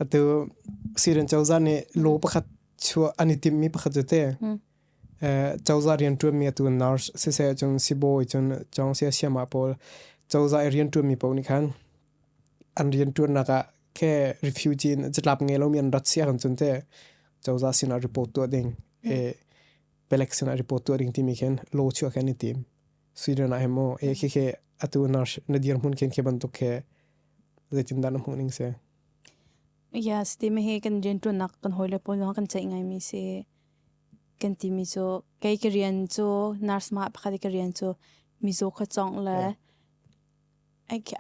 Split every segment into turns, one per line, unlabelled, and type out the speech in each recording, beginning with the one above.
atu siren chawza nih lo pakhat chuah an i timmi pakhat cu te chawza rian ṭuanmi atu nurse si se cun sibawi cun chong sia siama pawl chawza i rian ṭuanmi pawl nih khan an rian ṭuannak ah ke refugee in catlap nge lomi an rat sia kan cun te chawza sinah report tuah ding e pelek sinah report tuah ding timi khin lo chuah kan i tim sweden ah hemo e khi ke atu nurse na dir mun khin ke bantuk ke zeitin dan hmuh ning se Yes, timi hi kan rianṭuannak kan hawile pawl zong kan ceih ngaimi si. Kan timi cu, kei ka rian cu, nurse mah pakhat i ka rian cu, mizaw kha cawngh le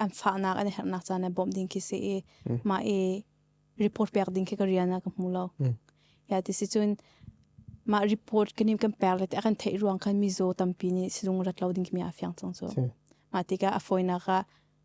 an fahnak an i herhnak caan le bawmh ding khi si i, mah i report pek ding khi ka rian ah ka hmu lo. Ie, tisi cun, mah report kan i kan pek le ti a kan theih ruang khan mizaw tampi nih sizung rat lo ding khi mi aa fiang cang cu. Mah tikah a fawinak ah,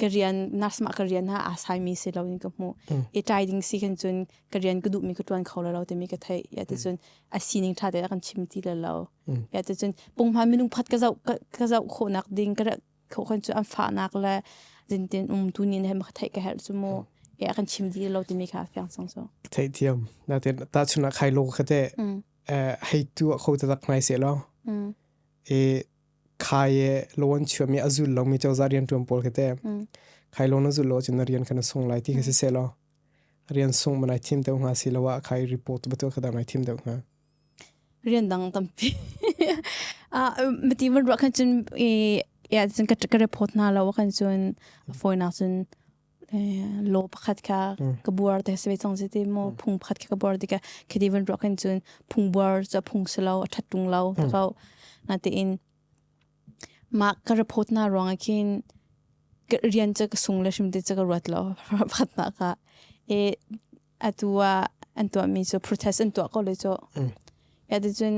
ka rian nurse ma ka rian ha a sai mi si lo in ka mu i tai ding si kan chun ka rian ka du mi ka tuan kho lo te mi ka thei ya te chun a sining tha te kan chim ti lo ya te chun pung ma minung phat ka zau ka zau kho nak ding ka kho kan chu an fa nak la din tin um tu ni ne ma thei ka her chu mu ya kan chim di lo te mi ka fyang sang so thei thiam na te ta chuna khai lo ka te hei tu kho ta tak nai se lo e khai e lon chuam mi azul lo mi chawza rian tuam pol ke te khai lon azul lo chin rian kan sung lai ti ke se se lo rian sung manai thim deu nga si lawa khai report betu khadam ai thim deu nga rian dang tampi a mati man ro khan chin e ya chin ka report na lawa kan chun foi na chin law pakhat kha ka buar te se chong si ti mo phung pakhat kha ka buar ti ka khidi van ruak hin chun phung buar cha phung se lo athat tung lo ta kau na te in ma ka report na ruang a khin ka rian cha ka sung le shim te cha ka ruat lo pakhat na ka e atua an tua mi so protest an tua ko le cho ya te chun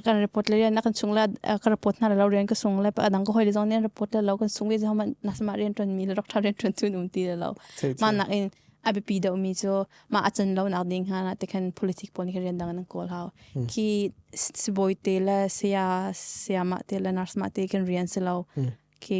kan report le na kan chung la ka report na lo rian ka sung le pa dang ko hoi le zong ne report lo kan sung vi zo man na sama rian ton mi le rak tha rian ton tu num ti lo ma nak in abipi do mi chu ma achan lo nak ding ha na te khan politic pon ke rian dang nan kol hau ki siboy te le sia sia ma te le nurse ma te kan rian se lo ki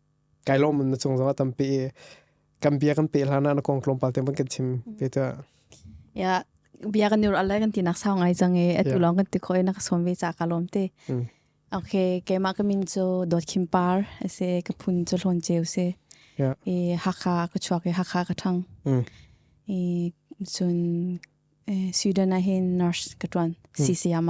kai lom na chung zong a tampi kan bia kan pe hlan ah na kong tlawmpal te kan chim pe ta ya bia kan nur alai kan tinak sau ngai chang e atu long kan ti khoi na ka som ve cha ka lom te okay keima ka min cho dot khim par ase ka phun cho hlon cheu se e hakha ka chuak e hakha ka thang e sun Sweden a hin nurse ka tuan CCM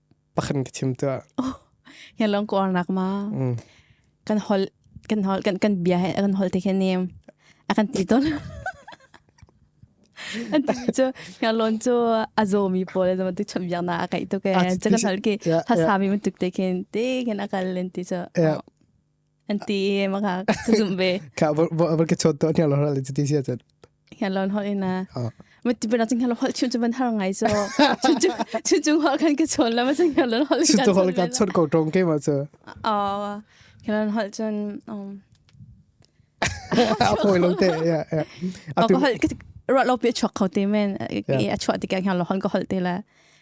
pakhat ka chim tuah ya long ko nak ma kan hol kan hol kan kan bia kan hol te khe ne akan ti ton an ti chu ya lon chu azo mi pol zo tu chum yang na akai to ke cha kan hol ke ha sa mi mu tuk te khen te khen akal len ti chu an ti e ma ka ka zum be ka bor ke chot to ni lo le ti sia chan ya lon ho ina ma ti bena ting lo hol chun chuban har ngai so chun chun chung ho kan ke chon la ma chun ya lon hol su to hol ka chot ko tong ke ma so a ke lon hol chun a poi lo te ya ya a hol ro lo pe chok kho te men a chwa ti ka ya lo hol ko hol te la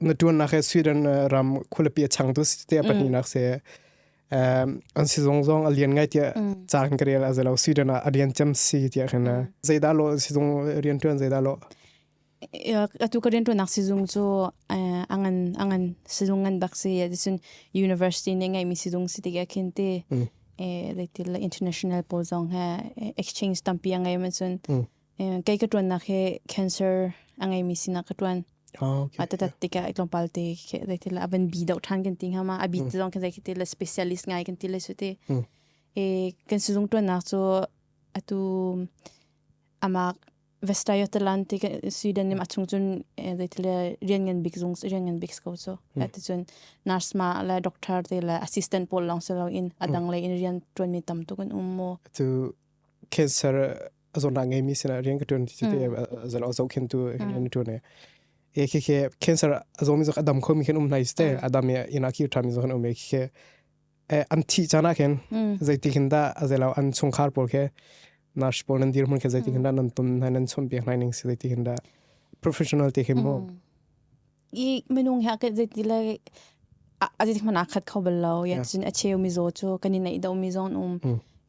na tuannak he Sweden ram khulapi chang tu si te pahni nak se an si zong zong a lian ngai tia caan ka real azalo Sweden a alian chem si tia khana zaida lo si zong rian tuan zaida lo atu ka rian tuanak sizung cu angan angan sizung ngan bak si adisun university ne ngai mi sizung si tiga khin ti leitil international po zong ha exchange tampi angai man sun kei ka ṭuannak hi cancer a ngeimi sinah ka ṭuan. Atatat tika itlawmpal te daithi la avan bi dau ṭhan kan ti ngama abi te zong kan dai khiti la specialist ngai kan ti la suti. kan sizung ṭuannak cu atu amak Vestayotalan ti Sweden nim achung cun daithi la rian ngan bik zung rian ngan bik ko cu. Ati cun nurse ma la doctor te la assistant pawl long si lo in adang le in rian ṭuanmi tam tu kan um mu. Atu cancer a zon ngai mi sina rian ka tuan ti te a zan o zo khin tu rian tu ne e ke ke cancer a zo mi zo adam kho mi khin um nai ste adam ya ina ki tha mi zo khan um ke ke an thi chana khen zai ti khin da a zelaw an chung khar pol ke nurse pol nan dir mun ke zai ti khin da nan tum nan nan chom pe nai ning si zai ti khin da professional te khin mo i minung hi akeh zeiti le azeiti hmanh akhat kho bal lo ya cun acheu mizaw cu kan i neih deuh mi zong um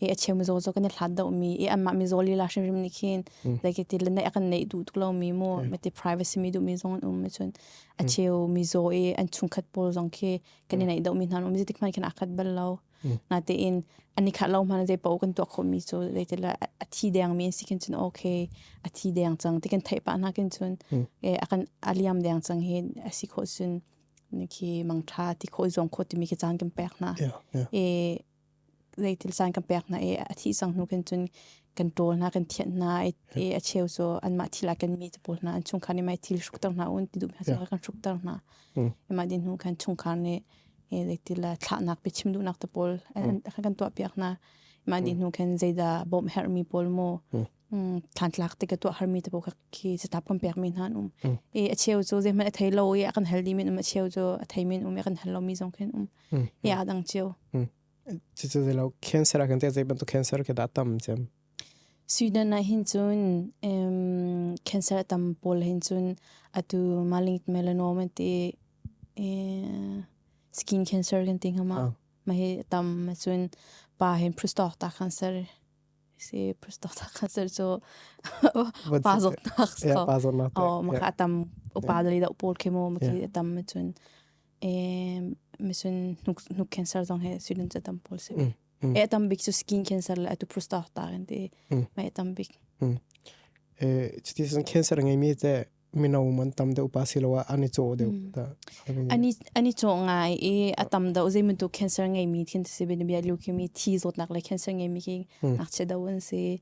i acheu mizaw cu kan i hlat deuh mi i anmah mizaw lila hrimhrim nih khin zeiti le neih akan neih duh tuk lo mi mu mete privacy mi duh mi zong an um cun acheu mizaw i an chungkhat pawl zong khi kan i neih deuh mi hna an um zeiti hmanh khin akhat bal lo nga tein ani khat lo hmana zei pau kan tuak khomi cu zei ti la a thi deng mi si kin cun okay a thi deng cang ti kan thei pa na kin cun e akan aliam deng cang hi asi kho sun ni khi mang tha ti kho zong kho ti mi ki chan kan pek na e zei til san kan pek na e a thi sang nu kan cun kan tol na kan thian na e a cheu so an ma thila kan mi tapol na an chung khani mai thil shruk tar na un ti du pha so kan shruk tar na e ma din nu kan chung khar ne thlahnak pe chim duhnak te pawl kan tuah piak hna. Mah nih hnu khan zeidah bawm herhmi pawl maw thlan tlak te ka tuah harmi te pawl khi catap kan piak mi hna an um. I a cheu cu zeihmanh a thei lo i a kan hel dih min um a cheu cu a thei min um i a kan hel lo mi zong khin um. I a dang cheu. Cucu zei lo cancer a kan te zei bantuk cancer ke da tam cem. Sweden ah hin cun cancer tam pawl hin cun atu malignant melanoma an ti i skin cancer kan ti ngam ah mah hi a tam ahcun pa hin prostata cancer si prostata cancer cu pa zawtnak mah kha a tam upa dali dah pawl khi maw mah khi a tam ahcun mah cun hnuk cancer zong hi Sweden cu a tam pawl si. Mm. E tam bik cu skin cancer le atu prostata kan ti. Mm. Ma e tam bik. Mm. E chiti san cancer ngai mi te mino man tam de upa siloa ani cho de ta. Ani ani cho ngai e a tam da uzei mun tu cancer ngai mi thin si bin bia leukemia thi zot nak le cancer ngai mi ki nak che da wan si.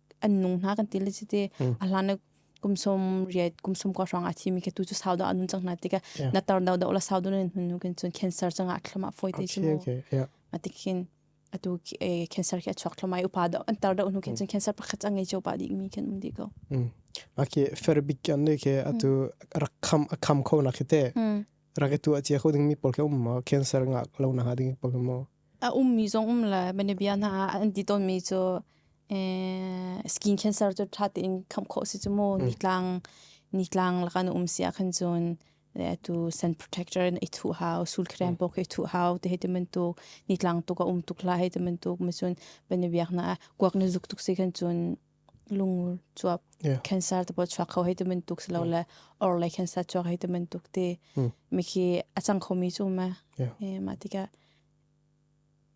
an nung hna kan ti le chiti a hlan kum som riat kum som ko hrang a thi mi ke tu chu sau da anun chang na ti ka na tar do do la sau du ne hun ken chun cancer changa thlama foi te chu atikin atu cancer ke chok thlama upa do an tar do nu ken chun cancer pakhat angai cho pa dik mi ken um di ko ake ferbik kan ne ke atu rakham akham kho na khite Rak i tuah cia kho dingmi pawl khi um maw? Cancer ngah lo na ha dingmi pawl maw? A ummi zong um le manabia hna an ti tawnmi cu skin cancer cu ṭha tein khamh khawh si cu mu nitlang nitlang lakana um sia khan cun tu sun protector na i thu hau sul krem pok i thu hau te he teman tuk nitlang tuk a um tuk la he teman tuk ma cun banabiak na kuak na zuk tuk si khan cun lung chuap yeah. cancer te po chuak kho hei te men tuk si lo le or le cancer chuak hei te men tuk te mi khi a chang kho mi chu ma e ma ti ka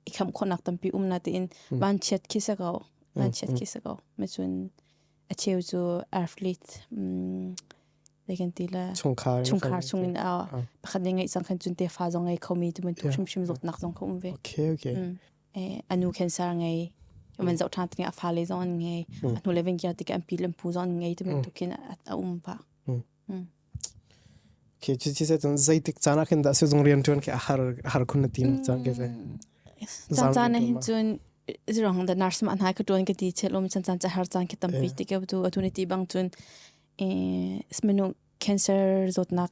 i kham khon nak tampi um na te in ban chiat khi sa ko ban chiat khi sa ko me chun a cheu chu athlete lekin ti la chungkhar chungkhar chung in a pakhat ne ngai sang khan chun te fa zong ai kho mi tu men tuk shum shum zok nak zong ko um ve okay okay a nu cancer ngei man zoh ṭhan tangin a fale zong an ngei a hnule ven kia tikah an pi le pu zong an ngei tibantuk khin a um va khi cu chi se cun zeitik caan ah khin dah se zung rian ṭuan ke a har har khun na tim cang ke se chan chan na hin cun zirong da nurse ma nai ka ṭuan ke ti chelom chan chan cha har chan ke tampi tikau tu atuni ti bang cun smenu cancer zotnak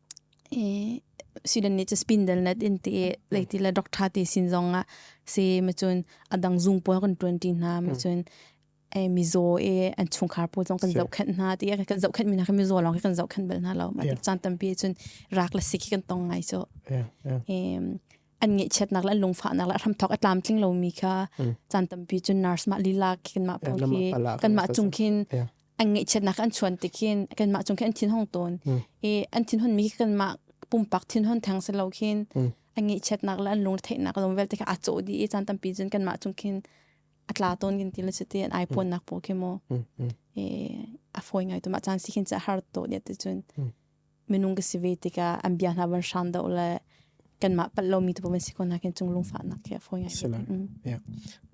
i sidan nih ca spindle net in ti leiti le doctor ti sin zong ah se ma cun adang zung puai kan tuan ti hna ma cun e mizaw e an chungkhar pu zong kan zoh khenh hna ti kan zoh khenh mi hna kan mizaw lawng hi kan zoh khenh bal hna lo ma chan tampi cun rak le sik hi kan tong ngai so an ngeihchiatnak le an lungfahnak le hram thok a tlam tling lo mi kha chan tampi cun nurse mah lila kan mah pong khi kan mah cung khin an ngaihchiatnak an chuan tikin kanmah cung khin an thin hong tawn i an thin hon mi kanmah pumpak thin hon thang se lo khin an ngaihchiatnak le an lung theihnak lom vel tikha a cho di i chan tampi cun kanmah cung khin atla ton gin ti le chuti an ai ponnak po khi mo e a foi ngai to ma chan si khin cha har to dia te chun minung ka si ve tikah an bia hna van hram doh le kanmah palh lomi tu van si ko hna khin cung lungfah nak khi a fawi ngai sila yeah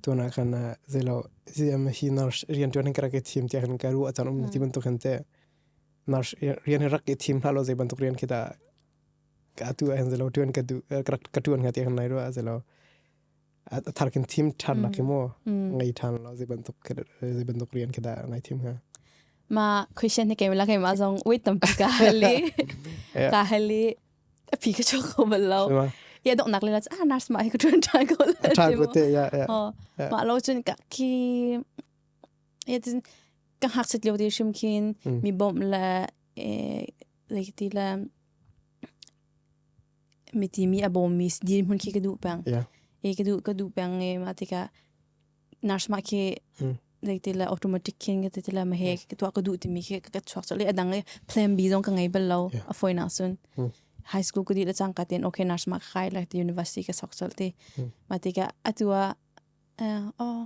tuna kan zelo zi am hi nurse rian tuan hin kara ke thim te han karu achan um ti bantuk han te nurse rian hi rak ke thim hla lo ze bantuk rian khi da ka tu an zelo tuan ka du ka tuan ha te han nai ro zelo a thar kin thim than nak maw ngai than lo zei bantuk zei bantuk rian kada ngai thim ha ma question ne kemela ke ma zong wait tam pi ka hali ka hali a phi ka cho ko bal lo ya dok nak le la ah nurse ma he ka tran tran ko le tran ko te ya ya ma lo chun ka ki ya tin ka hak sit leo de shim khin mi bom la eh like ti la Miti mi a bawmmi dirhmun khi ka duh peng. Yeah. E ka duh ka duh peng e ma tikah nurse ma khi mm. like tila automatic khin ka tila ma he ka tua ka duh timi khi ka chuak so le adang le plan B zong ka ngai bal lo a foi na sun mm. high school ka di la chang ka ten okay nurse ma khai like the university ka sok sol ti ma tikah atua oh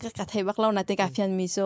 ka ka thei bak lo na tikah phian mi so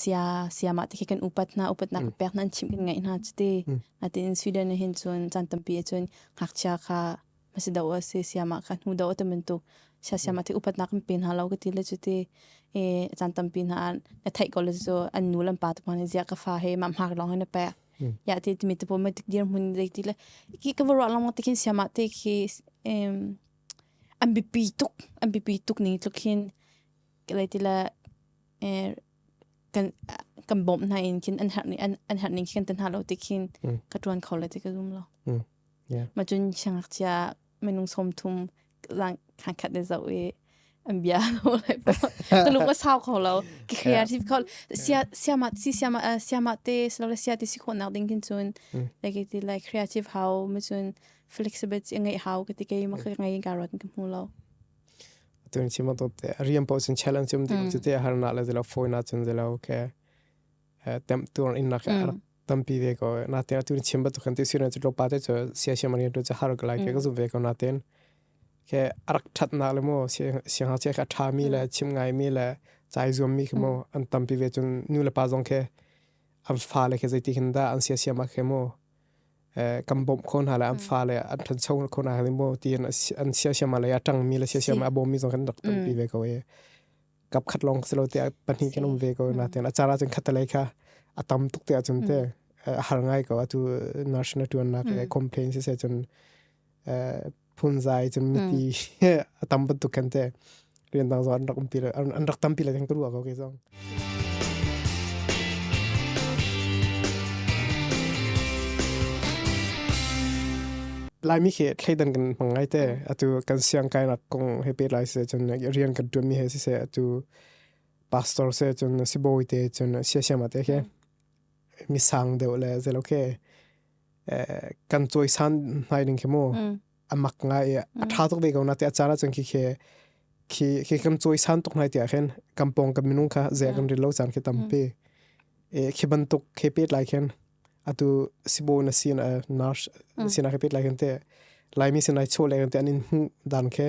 sia siamah te khi kan upat hna upatnak pek hna an chim kan ngaih hna cuti natin Sweden ah hin cun caan tampi ah cun ngakchia kha masi do a si siamah kha hnu do a tam bantuk sia siamah te upatnak kan pe hna lo ka ti le cuti caan tampi hna na theih ko le cu an nu lan pa tu hna zia ka fa he mam hak long he na pe ya ti ti mi te po ma tik dir mun dei ti le ki ka ro long te khin siamah te khi an bi pi tuk an bi pi tuk ni tluk hin Lai ti le kan bawm hna in khin an herh ning khi kan tan hna lo ti khin ka ṭuan kho le ti ka zum lo. Ma cun siangngakchia minung sawmthum khankhat ne zoh i an bia lo lai po. Ka lung a sau kho lo. Creative kho. Siamah te silole sia ti si khawh nak ding khin cun like ti like creative hau ma cun flexibility a ngei hau ka ti ke ma ka ngei ka rot ka hmu lo. Tun chima to te riam po sun challenge um dilo chu te har na le dilo phone na chun dilo ke tem tur in na ka tampi ve ko na te tun chimba to kan ti sira chu lopa te chu sia sia mari to chu har ka lai ke ka zu ve ko na ten ke arak that na le mo sia ha che ka tha mi le chim ngai mi le chai zum mi mo an tampi ve chun nu le pa zong ke am fa le ke zaiti khin da an sia sia ma ke mo kan bawm kho hna le an fa le an than cheu kho hna ni mo ti an an sia sia ma le atang mi le sia sia ma bom mi zong kan rak tam pi ve ko e kap khat long selo te pahni kan um ve ko na ten achara chen khatale kha atam tuk te achun te har ngai ko atu national tuan na ke complain se se chun phunzai cun miti a tam bantuk kan te rian dang zo an rak umpi le an rak tampi le theng tu ruwa ko ke zong laimi khi thleidan kan mang ngai te atu kan siang kai nak kong he pe lai se chun rian kan tuam mi he si se atu pastor se chun si boy te chun sia sia ma te ke mi sang deu le zelo ke kan cuaisan ngai ding khi mu amak ngai i a tha tuk ve ko na te a caan ahcun khi khi khi khi kan cuaisan tuk ngai tiah khin kampong kan minung kha ze kan ril lo caan khi tampi khi bantuk khi pet lai khin atu sibo na sin a nars sin a khi pet lai khin te laimi sin ai chho lai khin te anin dan khi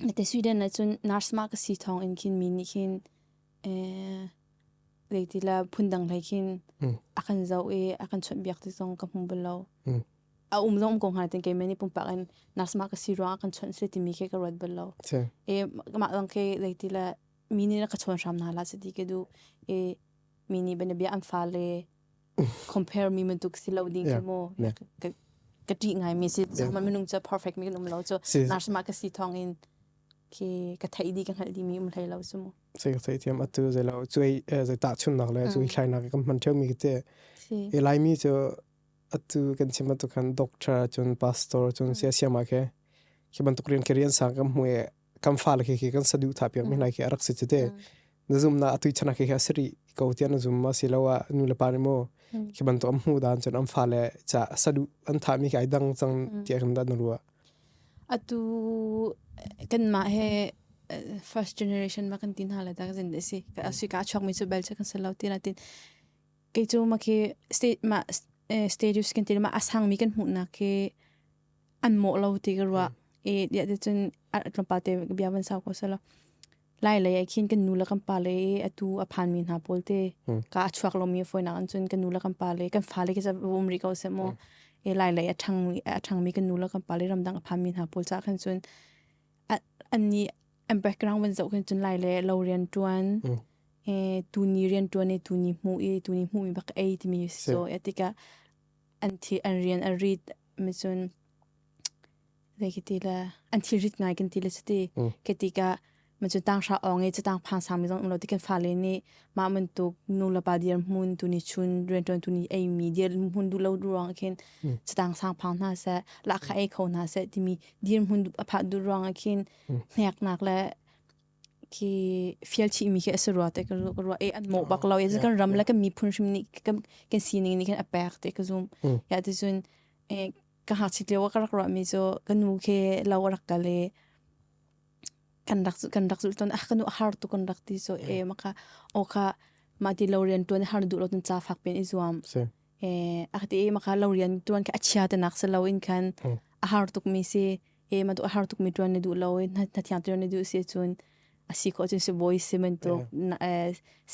Nate Sweden ah cun nurse ma ka si thawng in khin mi nih khin le ti la phundang hlei khin a kan zoh i a kan chunh biak ti zong ka hmu bal lo. A um zong um ko hnga ten kei meni pumpak in nurse ma ka si ruang a kan chunh si ti mi ke ka ruat bal lo. E mah dang ke le ti la mi nih na ka chawn hram na la si ti ke du e mi nih bana bia an fa le compare mi man tuk si lo ding ka mo ka ka ti ngai mi si so man minung cha perfect mi kan um lo cho nar sama ka si thong in ke ka thai di ka hal di mi um hlai lo su mo se ka thai thiam atu ze lo chui ze ta chun nak le chui thlai na ka man theu mi ke te e lai mi cho atu kan chim tu kan doctor chun pastor chun sia siama ke ki ban tukrian kerian sang kam hue kan fa le khi kan saduh tha piak mi lai khi arak si chite na zum na atui chana khi asiri ko tia na zum ma si lo a nu le pa ni mo khi ban to am hu dan chen am fa le cha sadu an tha mi kai dang chang tia kan da na ruwa atu kan ma he first generation ma kan tin hala tak zin de si ka asi ka chok mi chu bel kan se lo ti na tin ke chu ma ke state ma status kan tin ma asang mi kan mu na ke an mawh lo ti ka ruah i diah ti cun tlawmpal te bia van sau ko selaw lai lei ai khin kan nu le kan pa le i atu a phan mi hna pawl te ka a chuak lomi foinak in cun kan nu le kan pa le kan fa le kisa um rih ko se maw i lai lei a ṭhang mi a ṭhang mi kan nu le kan pa le ramdang a phan mi hna pawl ca khan cun an ni an background van zoh khin cun lai le lo rian ṭuan e tu ni rian ṭuan i tu ni hmuh i tu ni hmuh mi bak ei timi so e tika an thi an rian a rit mi cun le kiti le an thi rit ngai kan ti le cati keti ka ma cu tang sha ong e tang phang sang mi zong lo ti kan fa le ni ma man tu nu la pa dir mun tu ni chun rian tuan tu ni ei mi dir mun du lo du rang khin tang sang phang na se la kha ei kho na se ti mi dir mun du apha du rang khin hnek nak le ki fialthi mi khi ase rua te ka rua e an mo bak lo e kan ram la ka mi phun shim ni kan sining ni kan apek te ka zoom ya ti sun ka ha chit lewa ka rak rua mi cho ka nu ke lo rak ka le kan rak kan rak zul ton ah ka nu har tu kan rak ti so e maka o ka ma ti lo rian tuan har du lo tun cha fak pen i zuam e ak ti maka lo rian tuan ka achia te nak se lo in kan a har tuk mi se e ma tu har tuk mi tuan ni du lo na na thiang tian ni du si chun asi ko chun si boi si men tu na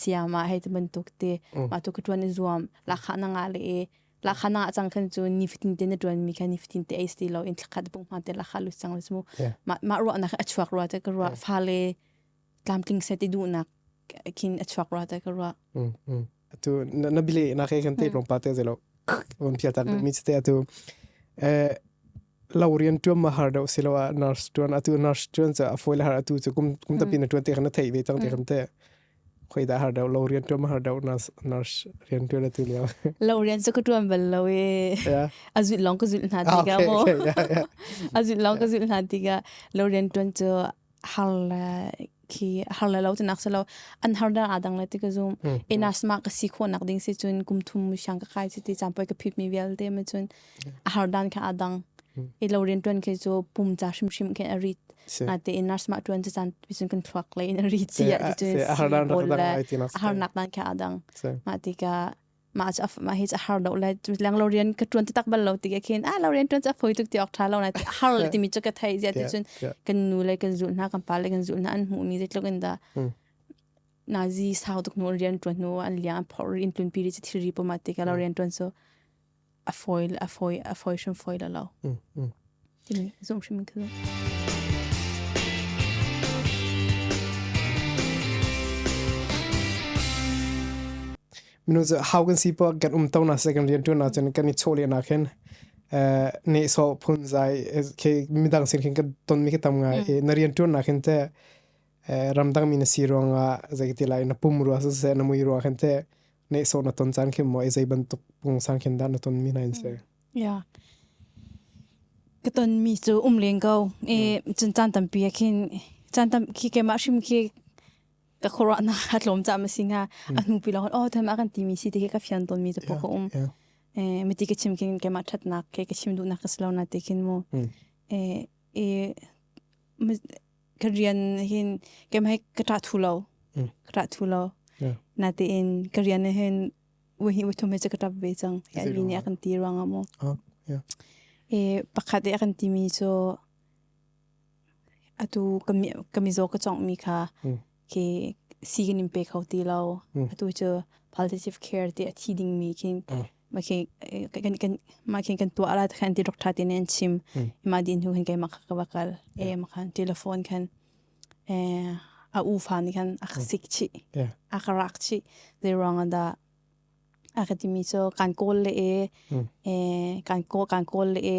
siam ma hei te men tuk te ma tu tuan ni zuam la kha na nga le la kha na chang khan chun ni fitin te na tuan mi khan ni fitin te ai sti lo in thakhat bung ma te la kha lu chang lu mu ma ma ro na a chuak ro te ka ro fa le tlamtling se ti duhnak khin a chuak rua ta ka rua tu na bile na ke kan te rong pa te zelo on phia tak mi te atu eh laurian tuam ma har do siloa nurse tuan atu nurse tuan cha afoil har atu chu kum kum ta pin tuan te khana thei ve chang te kham te khoi da har do laurian tuam har do nurse nurse rian tuan atu liao laurian chu ka tuam bal lo e azut long ka zut na ti ga mo azut long ka zut na ti ga laurian tuan chu har le khi har le lo ti nak si lo an har dar adang le ti ka zum enas ma ka si kho nak ding si chun kum thum mu shang ka kai si ti champoi ka phit mi vial te ma chun a har dan kha adang e lo rin tuan ke cho pum cha shim shim ke arit na te enas ma tuan chi chan pisun kan thuak le in ri chi a ti chun har dan har nak dan kha adang ma ti ka ma cha ma hi cha har lo le lang lo rian ka tuan tak bal lo ti ke khin a lo rian tuan cha phoi tuk ti ok tha lo na ti har ti mi chu ka thai zia ti chun kan nu le kan zul na kan pa le kan zul na an mu mi zetluk in da nazi sau tuk nu rian tuan nu an liang phor in tun piri chi thiri po ma ti ka lo rian tuan so a fawi a fawi a fawi hrim fawi lo lo tini zum hrim ka zum minu ze how kan si pa kan um to na se kan rian tu na chen kan ni cho le na khen eh ne so phun zai ke midang sin khin kan ton mi ke tam ngai e na rian tu na khen te ramdangmi na si ruangah zeiti lai na pum rua siseh na mui rua khan te neso na ton chan khin mo ai zei bantuk pung sang khin da na ton mi na in se ya ka ton mi chu um len go e cun chan tam pi khin chan tam khi ke ma shim khi ka khora na hatlom cha ma singa anu pi lo oh tham akan ti mi si te ka fian ton mi chu po ko um e miti ke chim kin ke ma that nak ke ke chim du nak ka slo na te khin mo e e ka rian hin kem hai ka ṭah thu lo. Ka ṭah thu lo. Natein ka rian hin wei hi wei thum he cu ka ṭap ve cang. Ya mi nih a kan ti ruang ah maw. E pakhat i a kan ti mi cu atu ka mi zaw ka cawngh mi kha khi si kan in pe kho ti lo. Atu cu palliative care ti a thi dingmi khi ma khi kan kan ma khi kan tua ala khan ti doctor ti nen chim ma din hu khan ke ma ka bakal e ma khan telephone khan e a u fa ni khan ak sik chi ak rak chi the wrong da akatimi so kan kol le e e kan ko kan kol le e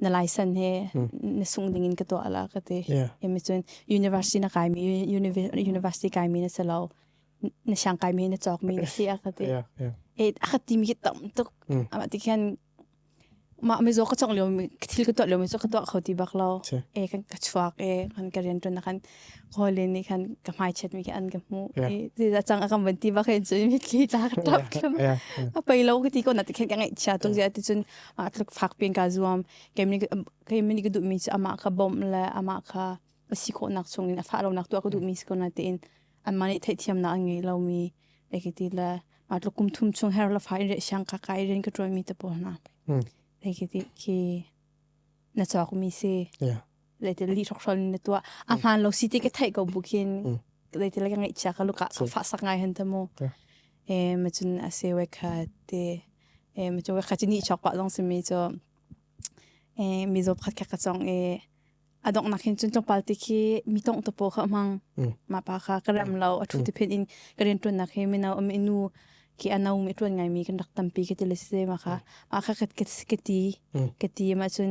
na license he na sung ding in ka tuah la ka ti emi cun university na kai mi university kai mi na si lo na shang kai mi na chok mi na si a ka ti e a ka ti mi tam tuk ama ti khan ma mi zo ka chok leo mi thil ka tuah leo mi zo ka tuah kho ti bak lo e kan ka chuak e kan ka rian tun na kan hawle nih khan ka hmaichiat mi khi an ka hmuh i zeizah cang a kan van ti ba khin cun mitthli ca ka tlak tlum a pei lo ka ti ko na ti khen ka ngaih chia tung zia ti cun a tluk fak pin ka zuam keimni keimni ka duh mi cu ama ka bom le ama ka si khawh nak chung in a fa lo nak tu ka duh mi si ko na ti in an ma nih theih thiam na an ngei lo mi e ka ti le ma tluk kum thum chung her la fa in re shang ka ka iren ka troi mi te po na e ka ti khi na chok mi si yeah leite li thok hrol na tua a hman lo city ke thai ko bukin leite le ngai chia ka luka fa sak ngai han tamo e ma chun ase we kha te e ma chun we kha chini chok pa long simi cho e mi zo khat ka chong e adong nakin chun chong palte khi mi tong to po kha mang ma pa kha karam lo a thu te phen in karen tun nak he me na am inu ki anau mi tun ngai mi kan rak tampi ke te le se ma kha ma kha kat kat kati kati ma chun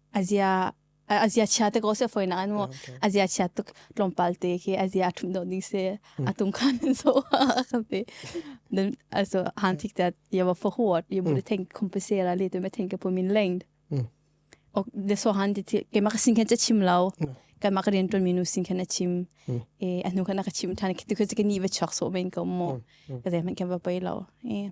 Azia azia chia te ko se foi na nu azia chia tuk tlawmpal te khi azia thum do ding se atum khan so khamte then also han thik that you were for what you would think compensate la le to me think ke pumin lengd ok de so han ti ke mak sin khen che chim lao ka mak ren ton minu sin khen chim e anu kana ka chim than ki tu ke ni va chok so ben ko mo ka de man ke ba pai lao e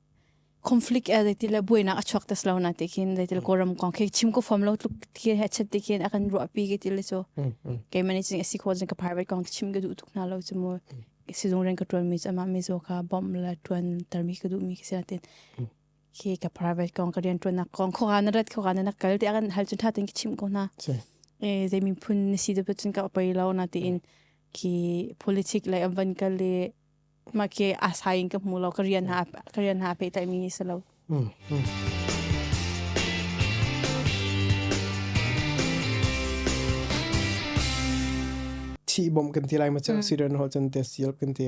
conflict e zeitil le buainak a chuak tas lo na te khin zeitil kawram kong khe chim ko fom lo tluk thi he chat te khin akan ru pi ke til chu ke mani ching asi kho jin ka private kong chim ga du tuk na lo chu mo sizung ren ka tuan mi ama mi zo ka bomb la tuan termi ka du mi ke sia tin ke ka private kong ka rian tuan na kong kho ga na rat kho ga na kal te akan hal chun tha tin chim ko na e zei min phun si de pun ka opei lo na tin ki politic le amvan ka le make asai in ka hmu lo ka rian ha ka rian ha pe mi si lo thi bom kan ti lai ma chang siren hol chan te sial kan ti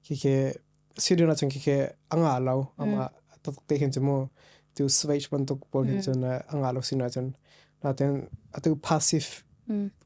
khi ke siren a chang khi ke anga lo ama tok te hin chemo tu switch ban tok pol hin chon anga lo sina chon la ten atu passive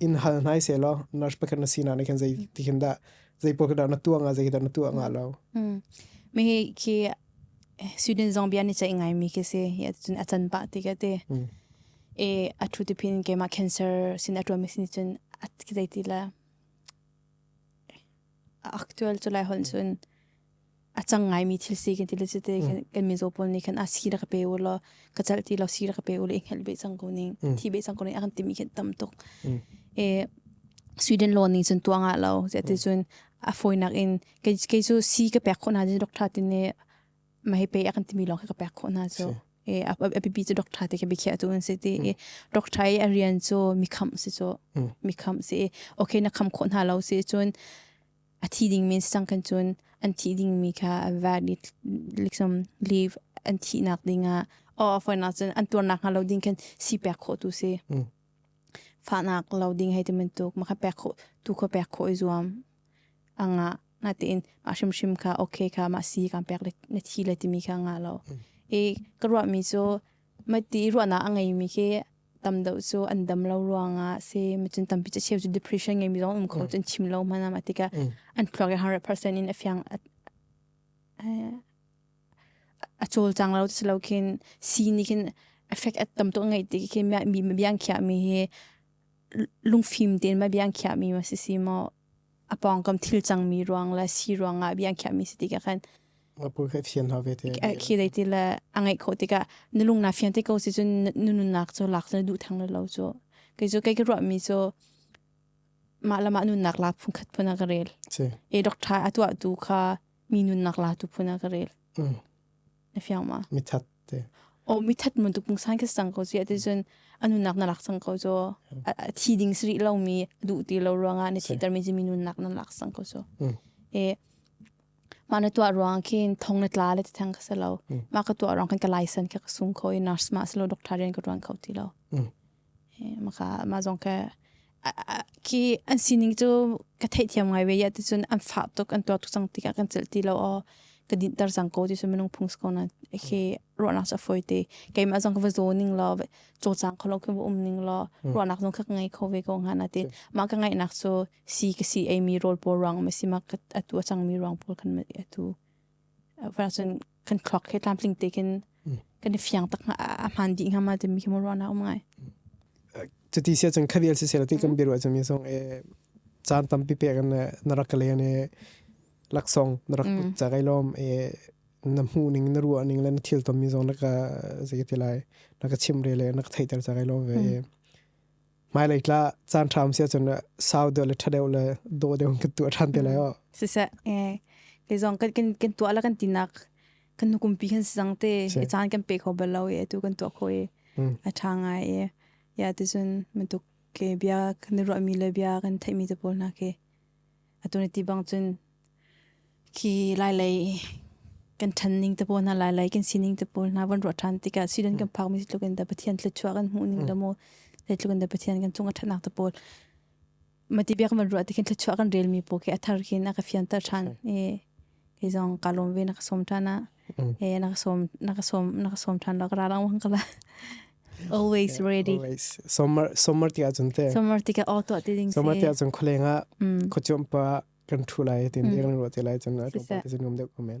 in hal hnai se lo nurse pakhat na sinak ne khan zei ti khin da zei po da na tuanga zei da na tua nga lo mi hi khi student zong bia ni chai ngai mi ke se ya chun achan pa ti ka te e athu ti phin ke ma cancer sin atwa mi sin chun at ki zai ti la actual chulai hon chun a cang ngaimi thil si kan ti le cite kan mizo pawl nih khan a si la ka pe u lo ka chal ti lo si la ka pe u le i hngal be chang ko ning thi be chang ko ning a kan ti mi khin tam tuk e sweden law ning cun tuanga lo ze ti cun a foinak in kei cu si ka pek khona jin doctor tin ne ma he pe a kan ti mi long ka pek khona chu e a pipi chu doctor te ke bi khia tu un se ti e doctor e a rian chu mi kham se chu mi kham se okay na kham khona lo se cun a thi dingmi sisang khan cun an thih dingmi kha vat liksom leave an thihnak dingah aw foinak cun an tuarnak hnga lo ding khan si pek khawh tu si fahnak lo ding hei ti bantuk ma kha pek khawh tu kho pek khawh i zuam anga nga tein ma hrimhrim kha okay kha ma si kan pek na thi le timi kha nga lo i ka ruah mi cu ma ti ruahnak a ngei mi khi tam deuh cu an dam lo ruangah si mi cun tampi ca cheu cu depression ngeimi zong um kho cun chim lo hman am atika an thluak i 100% in a fiang a col cang lo si lo khin si ni khin effect at tam to ngai ti ke mi mi biang khia mi hi lungfim ten ma biang khia mi ma si si mo a pawngkam thil cangmi ruang le si ruang ah bia khiahmi si ti ka khan apur kha thiam hna ve te khi dei ti le a ngai kho tikah nulung na fian te ko si cun nunnak cu lak cu duh thang lo cu kei cu kei ka ruahmi cu mah le mah nunnak la phun khat phun a ka rel e doctor atuah tu kha mi nunnak la tu phun a ka rel na fiang ma mithat o mi that mun tu pung san khe sang ko si ate chun anu nak na lak sang ko jo thi ding sri lo mi du ti lo ruanga ne thi tar mi ji mi nun nak na lak sang ko jo e ma na tua ruang khin thong na tla le thang ka selo ma ka tua rang khan ka license ke sung kho nurse ma selo doctor ren ka ruang khau ti lo Mah zong khi an sining cu ka theihthiam ngai ve i ticun an fah tuk an tuar tuk cang tikah kan celh ti lo aw ka dinhter cang ko ticun minung phung si ko nain khi ruahnak cu a fawi te. Keimah zong ka va zaw ning law cawcang kho lo khi va um ning law ruahnak zong khi ka ngei kho ve ko hnga nain mah ka ngaihnak cu sii ka si ei mi rawl pawl ruangah maw a si mah atu a cangmi ruang pawl khan maw a tu. Whereas in kan thluak he tlamtling tekin kan i fiang tak a hman dih ngama timi khi mu ruana um ngai. Cuti sia chang khadial si sela ti kan biru acham ye song e chan tampi pe kan narak le ne laksong narak cha kai lom e na mu ning na ruwa ning le na thil tom mi zong naka zai ti lai naka chim re le naka thai ter cha kai lom ve e hmailei tla caan ṭham sia cun sau deuh le ṭha deuh le daw deuh kan tuah ṭhan te lai o siseh ke zong kan kan kan tuah la kan tinak kan nukum pi kan sang te i caan kan pe kho bal lo e tu kan tuah kho e a ṭha ngai e ya te cun mantuk ke bia kan ro mi le bia kan theimi te pawl hna ke atu ni ti bang cun khi lai lei kan than ning te pawl hna lai lei kan sining te pawl hna van ruah than tikah sidon kan phak mi tluk in da pathian thlu chuak an hmuh ning le mo te tluk in da pathian kan chung a thatnak te pawl mati biak man ruah ti khin thlu chuak kan rel mi po ke athar khin aka fian ta than e Kei zong kaa lawm ve na ka sawm ṭhan ah. Ee na ka sawm na ka sawm na ka sawm ṭhan lo ka ra lang kala. Always ready. Always. Summer summer ti ahcun te. Summer ti ka auto ti ding si. Summer ti ahcun khulenga. Kho ciom pa kan ṭhu lai tin ding ru ti lai cun. Sisa. Sisa nom dek komen.